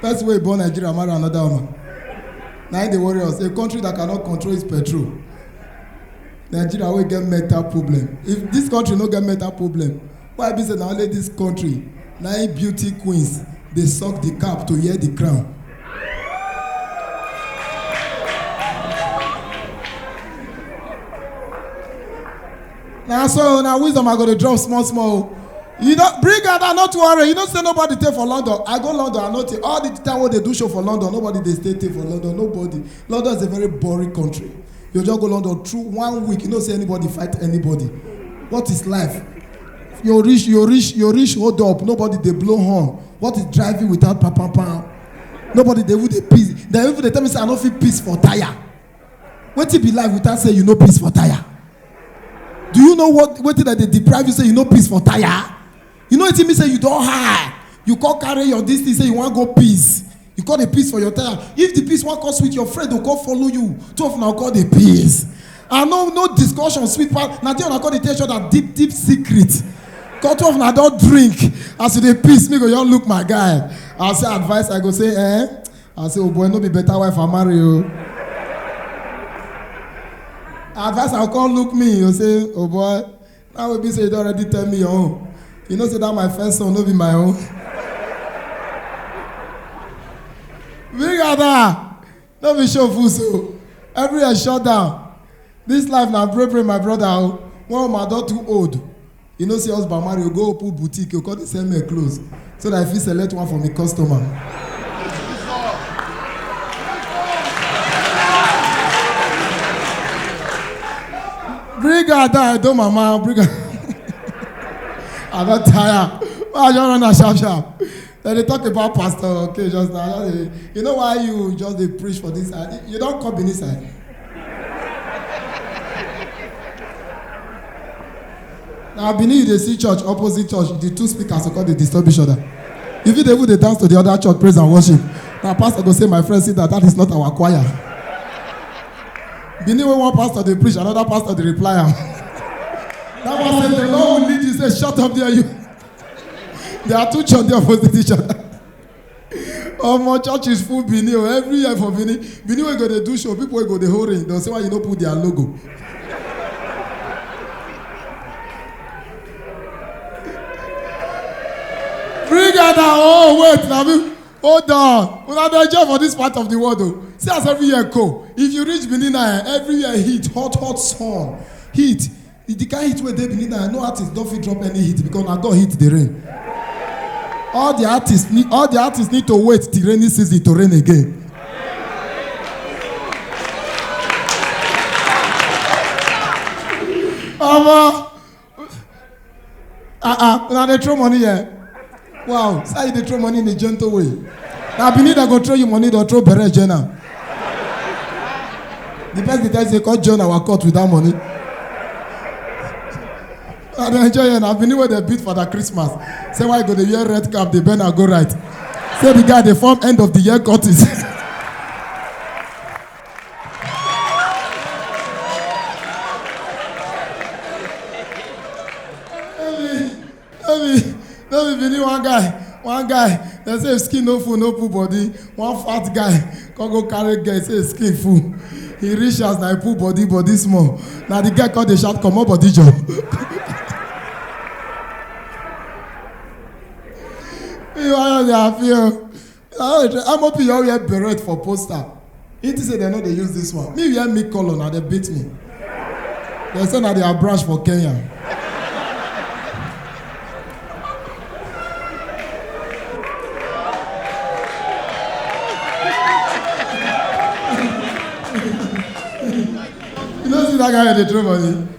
First way born Nigeria marry another woman. Now they worry us. A country that cannot control its petrol. Nigeria will get mental problem. If this country no get mental problem, why be say na only this country na im beauty queens dey suck the cap to hear the crown. na so na wisdom i go dey drop small small o you don bring am down no too worry you know say nobody dey for london i go london i no take all the time wey dey do show for london nobody dey stay take for london nobody london is a very boring country you just go london through one week you know say anybody fight anybody what is life you reach you reach you reach hold up nobody dey blow horn what is driving without pam pam pam nobody dey even dey piss dem even dey tell me say i no fit piss for tire wetin be life without say you no piss for tire do you know what wetin dem dey deprive you say you no piss for tire you know wetin mean say you don high you come carry your dis thing say you wan go piss you come dey piss for your tire if the piss wan come sweet your friend go come follow you two of una go come dey piss and no no discussion sweet pass na there una come dey tell each other deep deep secret come two of una don drink as you dey piss me go just look my guy i say advice i go say eh I say, oh boy, no be better wife I marry you. Advice I come look me, you say, oh boy, now will be say you don already tell me your own. You know say that my first son no be my own. Big Ada, no be show full so. Everywhere shut down. This life na break break my brother o. One woman don too old. You know say husband marry, you go open boutique, you come dey sell men clothes so that I fit select one for me customer. Bring her down, I don't mama, bring her. I don tire. Why I just run am sharp sharp? dem dey talk about pastor okay just now just dey you know why you just dey preach for this side you don come benin side na benin you dey see church opposite church the two speakers go come dey disturb each other you fit dey even dey dance to the other church praise and worship na pastor go say my friend sit down that is not our choir benin wey one pastor dey preach another pastor dey reply am that one say the lord will lead you say shut up there you. there are two church dey opposite each other omo church is full benin o every year for benin benin wey go dey do show people wey go dey hold ring don say why you no put their logo bring out na oh wait na me hold on una dey enjoy for this part of the world o see as every year go if you reach benin na eh, every year heat hot hot sun heat If the kind heat wey dey benin now no artist don fit drop any hit because na god hit the rain all the artists need all the artists need to wait till rainy season to rain again omo ah ah una dey throw money here Wow, so you dey throw money in a gentle way. Na Benin dem go throw you money, dem throw bere join am. The person dey tell you say come join our court with that money. I dey enjoy here na Benin wey dem beat for that Christmas. Say why you go dey wear red cap dey bend and go right. Say the guy dey form end of the year courtis. no be no be bini one guy one guy dem say if skin no full no pull body one fat guy come go carry girl say his skin full he reach house na he pull body body small na the girl come dey shout comot body jor. ìwà yóò di àfihàn. ah amop you all wear beret for poster he think say dem no dey use this one me wear me colour na dem beat me dem say na their branch for kenya you no see that guy wey dey throw money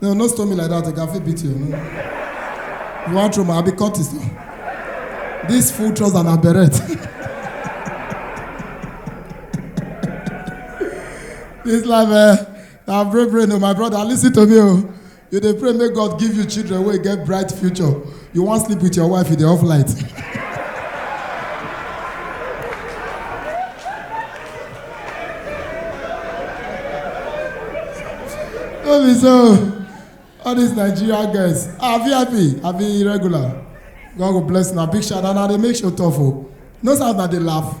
No, no stone me like that. I can fit beat you. No. You want throw my? I be Curtis. No. This full trouser and a beret. this life, eh? Now pray, pray, no, my brother. Listen to me, oh. You dey pray, make God give you children where you get bright future. You wan sleep with your wife, you dey off light. no be so all these nigeria girls ah vip i be irregular god go bless una big shout out na dey make show tough o no sound na dey laugh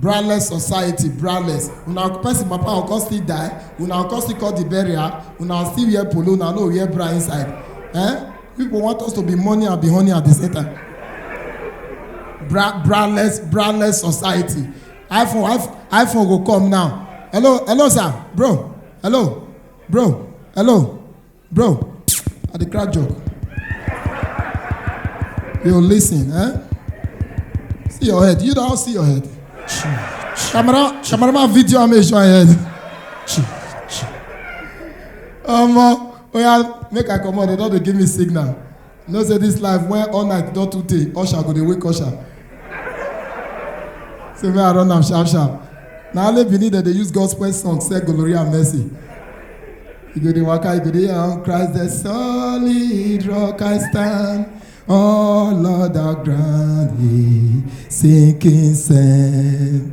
braless society braless una person papa go come still die una go come still call the burial una still wear polo una no wear bra inside eh people want us to be money and be honey at the same time bra braless braless society iphone iphone iphone go come now hello hello sir bro hello bro hello Bro, I dey crack joke. Yo, listen, eh? See your head. You don't see your head. Camera, cameraman video am make sure I head. Omo, oya make I comot, dem don dey give me signal. You know say this life when all night don too tey, usher go dey wake usher. Say make I run am sharp sharp. Na only Benin dem dey use gospel song sell glory and mercy. You go dey waka, you go dey on Christ the solid rock I stand. All other ground is sinking sand.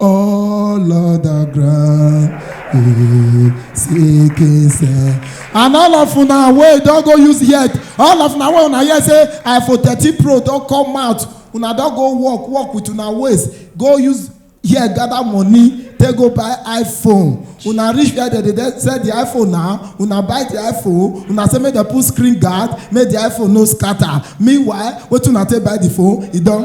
all other ground eh, seeking say and all of una wey don go use head all of una wey una hear say iphone thirteen pro don come out una don go work work with una waist go use hear gather money take go buy iphone una reach where dem dey sell the iphone now una buy the iphone una say make dem put screen guard make the iphone no scatter meanwhile wetin una take buy the phone e don